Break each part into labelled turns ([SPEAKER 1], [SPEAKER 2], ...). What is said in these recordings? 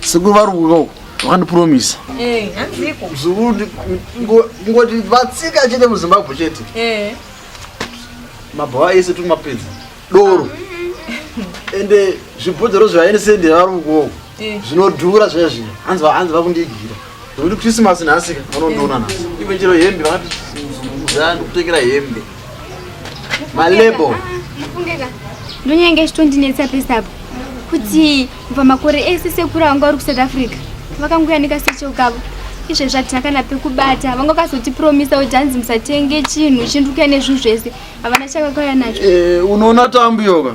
[SPEAKER 1] Sekuru vari kuuya uko vakandipromisa. Eh, hanziko.
[SPEAKER 2] Mzukuru
[SPEAKER 1] ndingoti vatsika chete muZimbabwe chete. Eh. Mabhawa ese turi mapedza. Doro. Ah. Ende zvibhodzero zvaende sendera vari kuuya uko. Eh. Zvinodhura zviya zviya. Hanzi hanzi vakundigira. Nekuti Christmas nhasi vanondiona nhasi. Iwe chero hembe vakati zaa ndikutengera hembe. Malebo.
[SPEAKER 3] Ndonyenge chitondinetsa pesa apo. Kuti kubva makore ese sekuru vangu vari kuSouth Africa. Vakanguya nekasecho kavo. Izve zvatina kana pekubata. Vanga vakazotipromisa kuti hanzi musatenge chinhu chindukuya nezvinhu zvese. Havana chakakauya nacho. Eh, unoona tambu
[SPEAKER 1] yoga.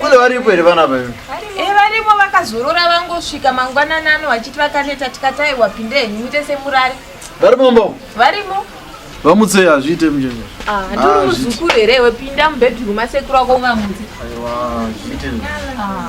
[SPEAKER 1] Kule varipo here vana vavo? Eh, varipo
[SPEAKER 2] vakazorora vangosvika mangwanani ano vachiti vakaneta tikatayi wapinde henyu muite semurari. Varimo mbo?
[SPEAKER 1] Varimo.
[SPEAKER 2] Vamutse
[SPEAKER 1] hazviite mjeni. Ah, ndiri ah, muzukuru
[SPEAKER 2] here wepinda mubedroom asekuru wako ungamutse. Aiwa, zviite.
[SPEAKER 1] Ah.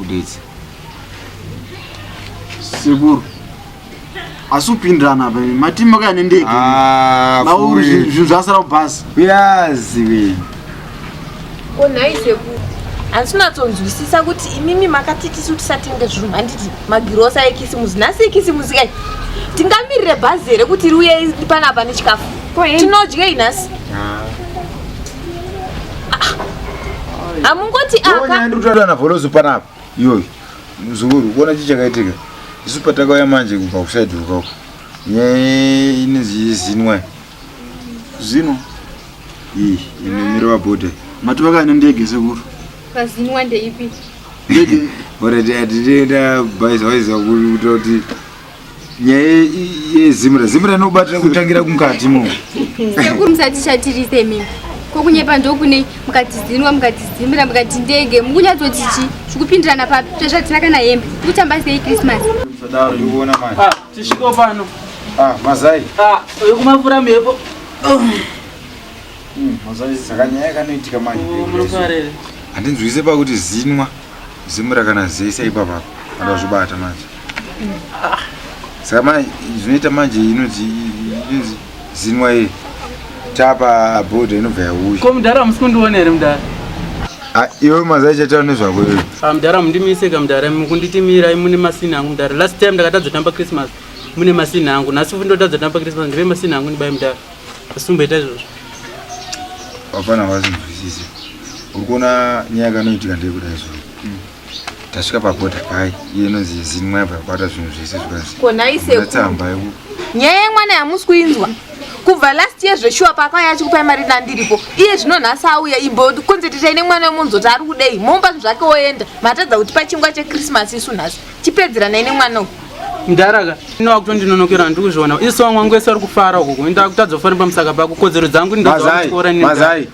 [SPEAKER 4] Uditsi.
[SPEAKER 1] Sekuru. Asi upindirana apa matimu makaya nendege. Ah, Mauri zvinhu zvasara kubhasi. Kuyazi we.
[SPEAKER 2] Onai sekuru. Asi unatsonzwisisa kuti imimi makati tisu tisatenge zvinhu handiti magirosa ekisimusi nhasi ekisimusi kai tingamirire bhazi here kuti riuye panapa nechikafu tinodyei nhasi ah. amungoti akaana volozo panapa
[SPEAKER 4] iyoyo muzukuru kuona chii chakaitika isu patakauya manje kubva kusaidi ukako nyaya inonzi zinwa
[SPEAKER 1] zino iyi
[SPEAKER 4] inomirova bhodha matovaka ane ndege
[SPEAKER 1] sekuru
[SPEAKER 3] pazinwa
[SPEAKER 1] ndeipi ndege orati
[SPEAKER 4] atitenda bhaizawaiza kuta kuti nyaya yezimra zimra inobatira
[SPEAKER 3] kutangira
[SPEAKER 4] kumukati
[SPEAKER 3] mo sekuru
[SPEAKER 4] musatichatirise
[SPEAKER 3] imimi
[SPEAKER 4] ko
[SPEAKER 3] kunyepa ndokunei mukatizinwa mukatizimira mukati ndege mukunyatsoti chi zvikupindirana papi tezvatina kana hembe kutamba sei krismas ah, tisviko
[SPEAKER 4] pano
[SPEAKER 1] ah, mazai
[SPEAKER 4] ah, yokumavura
[SPEAKER 1] mhepo hmm,
[SPEAKER 4] mazai zakanyaya kanoitika manje oh,
[SPEAKER 1] handinzwise
[SPEAKER 4] pakuti zinwa zimura kana zese ipapapa andazvibata manje ah. saka ma zvinoita manje inonzi inonzi zinwa iri tapa abroad inobva yauya ko mudhara hamusi kundiona here
[SPEAKER 1] mudhara ah,
[SPEAKER 4] iwe mazai chataura nezvako iwe ah, mudhara mundimiseka
[SPEAKER 1] mudhara mukunditimira mune masini angu mudhara last time ndakatadza tamba christmas mune masini angu nhasi futi ndotadza tamba christmas ndive masini angu ndibai mudhara asumboita izvozvo
[SPEAKER 4] wafana wasinzwisise uri kuona nyaya kanoitika ndeyekuda izvozvo hmm. tasvika paboda pai iye inonzi yezini mwaibva kubata zvinhu zvese zvikanziatsamba
[SPEAKER 2] yeku
[SPEAKER 4] nyaya yemwana
[SPEAKER 2] yamusi kuinzwa kubva last year zveshuwa pakauya achikupai mari nandiripo iye zvino nhasi auya imbo konzetitai nemwana wemunzoti ari kudei momba zvinhu zvake oenda matadza kuti pachingwa chekrismas isu nhasi chipedzeranai nemwana uyu mdaraka
[SPEAKER 1] ino wakutondinonokera handiri kuzviona isu vamwangu wese vari kufara ukoko enda kutadza kufanira pamusaka pako kodzero dzangu ndidzaorai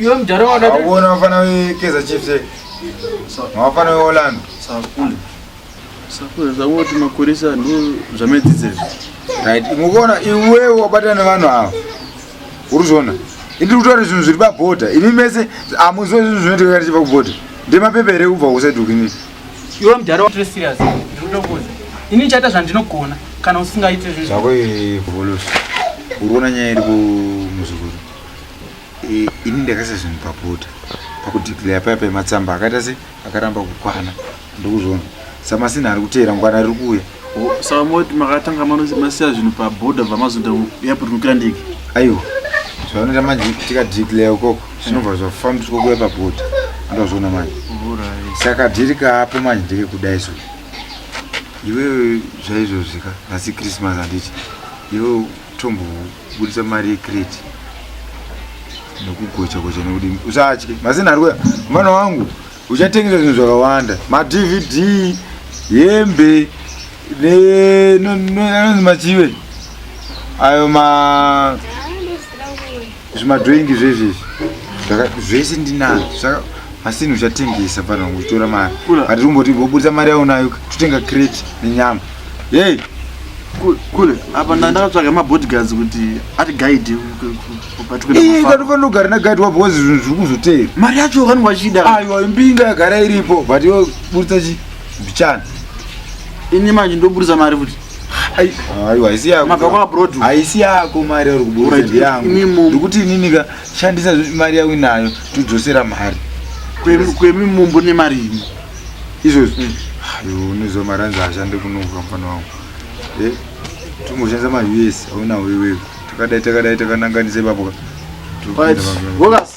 [SPEAKER 4] Iwe mdara
[SPEAKER 1] wada. Wabona wafana we
[SPEAKER 4] Kaizer Chiefs. Eh? Wafana we Orlando. Sakule. Sakule
[SPEAKER 5] zawoti makurisa ndo zvamedzidzira. Right.
[SPEAKER 4] Mukona iwe wabata nevanhu ava. Uruzona. Indi kutora zvinhu zviri pabhoda. Imi mese amuziwe zvinhu zvinoitika kana chipa kubhoda. Ndemapepa here kubva kusadukinini. Iwe mdara
[SPEAKER 1] wati serious. Ndinokuza. Ini chaita zvandinogona kana usingaite zvinhu. Zvako ivolosi.
[SPEAKER 4] Urona nyaya iri kumuzukuru. Eh, ini ndakaisa zvinhu papota pakudeclare paya pematsamba akaita se akaramba kukwana ndokuzvona samasina ari kuteera ngwana riri kuuya oh, saka moti
[SPEAKER 5] makatanga masiya zvinhu paboda bva mazoda airport kukandiki aiwa
[SPEAKER 4] zvavanoita manje tikadeclare ukoko zvinobva zvafambiswa kuya paboda andozvona manje saka dhiri kaapo manje ndekekudai so iwewe zvaizvozvika nhasi christmas handiti iwewe tombobudisa mari yecrate nokugocha gocha nekuti usatye mazina ari kuya mwana wangu uchatengesa zvinhu zvakawanda madvd hembe anonzi machive ayo ma zvimadroingi zvezvi zvese ndinazvo asi nhu chatengesa vanhu vangu chitora mari ati rumboti voburitsa mari yaunayo totenga crate nenyama yei
[SPEAKER 5] kule apa ndandakatsvaga mabodyguards kuti ati guide
[SPEAKER 4] kanofanogara naguide wabva wazi zvinhu zviri kuzoteera mari yacho vanhu vachida
[SPEAKER 5] aiwa imbinga yagara
[SPEAKER 4] iripo but yo buritsa chi mbichana
[SPEAKER 5] ini manje ndoburitsa mari futi aiwa
[SPEAKER 4] haisi yako mabva kwa abroad haisi
[SPEAKER 5] yako mari
[SPEAKER 4] yauri kuburitsa Alright, ndiyangu imimo. ndikuti inini ka shandisa zve- mari yawe nayo todzosera mari Kwemi- kwemi
[SPEAKER 5] mumbu nemari imo izvozvo
[SPEAKER 4] ayo unoziva mari anzi ashande kunoka mfana wangu Eh, tingoshandisa mari us aunawo iwewe takadai takadai takananganisa ipapo ka Alright, Topinda pamwe.
[SPEAKER 5] Bogus.